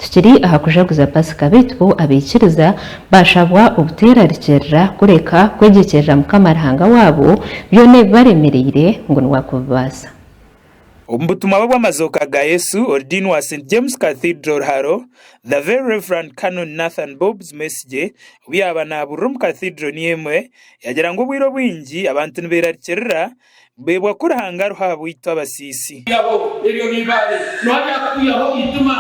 Tukiri aha kujaguza Pasika beitu bo abaikiriza bashabwa obuteerarikirira kureka kwegyekyerera Mukama Ruhanga waabo byona ebibaremereire ngu niwe akubibaasa. Omu butumwa bwe bw'amazooka ga Yesu, Ordiini wa St James Cathedral Haro, The Very Reverend Canon Nathan Bobbs Mwesigye, obu yaabaga naabuurira omu Cathedral niyo emwe, yaagira ngu obwire obwingi abantu nibeerarikirira, Beebwa ku Ruhanga ariho ahabwaitu abasiisi. Kwihaho ebyo n'eibaare, noha ryakukwihaho eitima?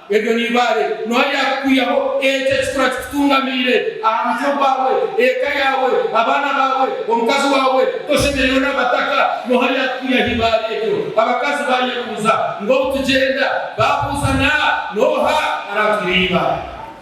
Ebyo n'eibaare, noha ryakukwihaho ekyo ekikura kikutungamiire aha mutwe gwawe? Eka yaawe, abaana baawe, omukazi waawe toshemereirwe nabataka, noha ryakukwihaho eibaare eryo? Abakazi baayebuuza, ngu obu tugyenda, baabuuza na, noha araatwiha eibaare?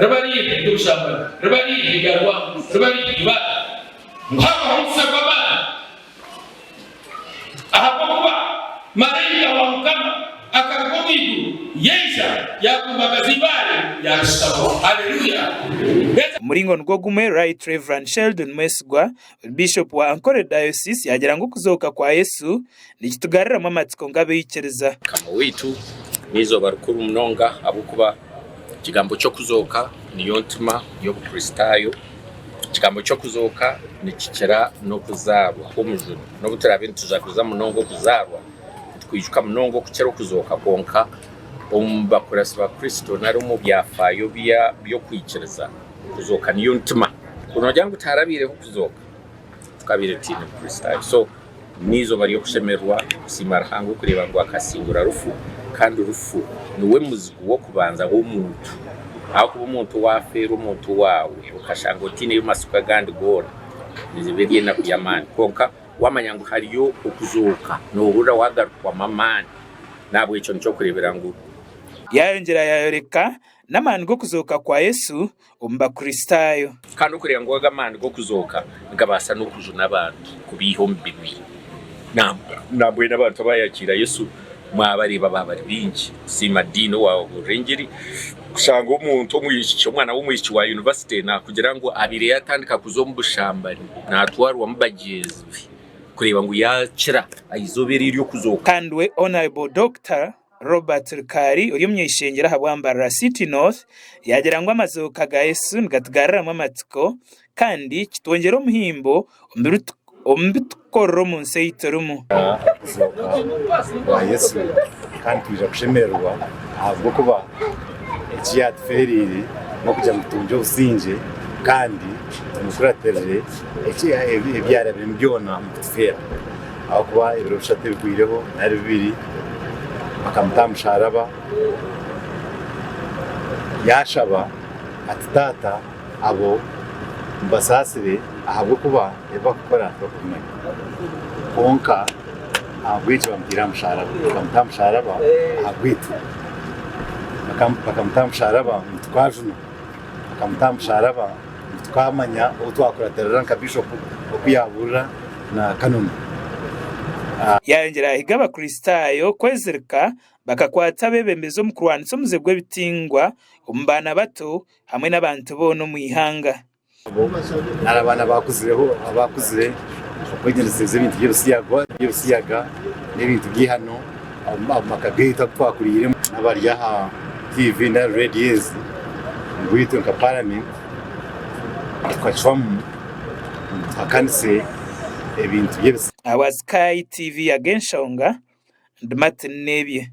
Riba riiha ery'obushambani? Riba riiha erya rwango? Riba riiha eibaara? Ngu habaho omusyo gw'amaani? Ahabw'okuba maraika wa Mukama akaruga omu iguru yaija, yaakumbagaza eibaare, yaarishutaho. Haleluya! Omuringo nigwo gumwe Right Rev. Sheldon Mwesigwa Bishop wa Ankole Diocese yaagira ngu okuzooka kwa Yesu nikitugaruramu amatsiko nk'abaikiriza. Mukama waitu n'eizooba rikuru munonga ahabw'okuba ekigambo ky'okuzooka niyo ntima y'Obukristaayo. Ekigambo ky'okuzooka nikikira n'okuzaarwa kw'omujuni. N'obu turaabe nitujaguza munonga okuzaarwa, nitwijuka munonga okukira okuzooka kwonka omu bakuratsi ba Kristo nari omu byafaayo by'okwikiriza. Kuzooka niyo ntima. Ku noogira ngu tiharabaireho kuzooka, tukabaire tutaine Bukristaayo. So, n'eizooba ry'okushemererwa kusiima Ruhanga okureeba ngu akasingura rufu, kandi rufu niwe muzigu w'okubanza w'omuntu. Ahakuba omuntu waafeerwa omuntu waawe, okashanga otaineyo matsiko agandi goona, neeba eri enaku y'amaani. Kwonka waamanya ngu hariyo okuzooka, noohurira waagarukwamu amaani. N'ahabw'ekyo nikyo okureebera ngu. Yaayongyera yaayoreka N'amaani g'okuzooka kwa Yesu omu Bakristaayo. Kandi okureeba ngu aga amaani g'okuzooka nigabaasa n'okujuna abantu kubaiha omu bibi. Nambwenu abantu abaayakiira Yesu mwabareeba baabari baingi kusiima Dean owaabuurire engiri. Kushanga omuntu omwishiki, omwana w'omwishiki wa yunivasite naakugira ngu abaire yaatandika kuza omu bushambani naatwarwamu bagyenzi be kureeba ngu yaakira aizoba eri ery'okuzooka. Kandi we Hon Dr. Robert Rukari ori omunyeshengyero aha Bwambarara City North yaagira ngu amazibuko ga Yesu nigatugaruramu amatsiko kandi kitwongyera omuhimbo omu bi turikukorera omu nsi ei turimu. Okuzooka kwa Yesu kandi twija kushemererwa ahabw'okuba eki yaatufeereire n'okugira ngu tungye obusingye kandi tumukuratirire ebi yaarabiremu byona omu kutufeera. Ahakuba ebiro bishatu ebigwireho nari bibiri bakamuta aha musharaba, yashaba ati Taata abo mubasaasire ahabw'okuba ebi bakukora tibakubimanya. Kwonka ahabw'ekyo bamutaire aha musharaba. Bakamuta aha musharaba ahabw'itwe. Bakamuta aha musharaba ngu tukajunwa. Bakamuta aha musharaba. Tukamanya ou twakuratirira nka Bishopu oku yaabuurira na Kanoni. Yaayongyera yahiga Abakristaayo kwezirika, bakakwata abeebembezi omu kurwanisa omuze gw'ebitingwa omu baana bato hamwe n'abantu boona omu ihanga. Abo nari abaana abaakuzireho abaakuzire okwegyendeseza ebintu by'ebisiyaga n'ebintu by'eihano. Omu maka gaitu abu twakuriiremu n'abari aha tiivi nari reediyo ezi, ngu itwe nka Paramenti tukacwamu ngu tuhakanise ebintu by'ebisiyaani. Our Sky TV Ag'enshonga ndi Martin Nebye.